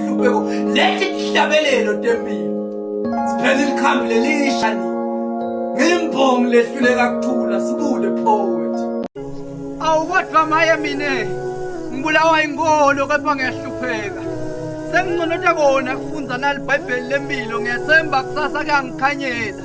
inhlupeko lesi sihlabelelo tempilo siphela ilikhambi lelisha ni ngimbongi lehluleka kuthula sibude poet awu kodwa maye mina ngibulawa inkolo kepha ngiyahlupheka senginconota kona kufundza nalibhayibheli lempilo ngiyathemba kusasa kuyangikhanyela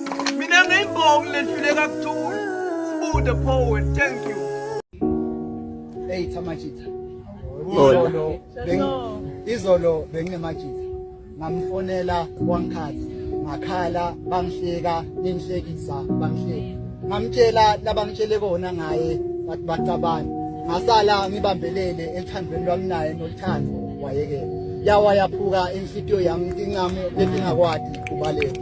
Mina ngiyibonga ledlule kakuthula. Sibude poet, thank you. Hey Thamajitha. Izolo beng izolo benginemajitha. Ngamfonela wangikhathi. Ngakhala bangihleka, ningihlekisa bangihleka. Ngamtshela labangitshele kona ngaye bathi bacabana. Ngasala ngibambelele ethandweni lwami naye nolithando wayekela. Yawa yaphuka inhlitiyo yami incamo letingakwati kubaleka.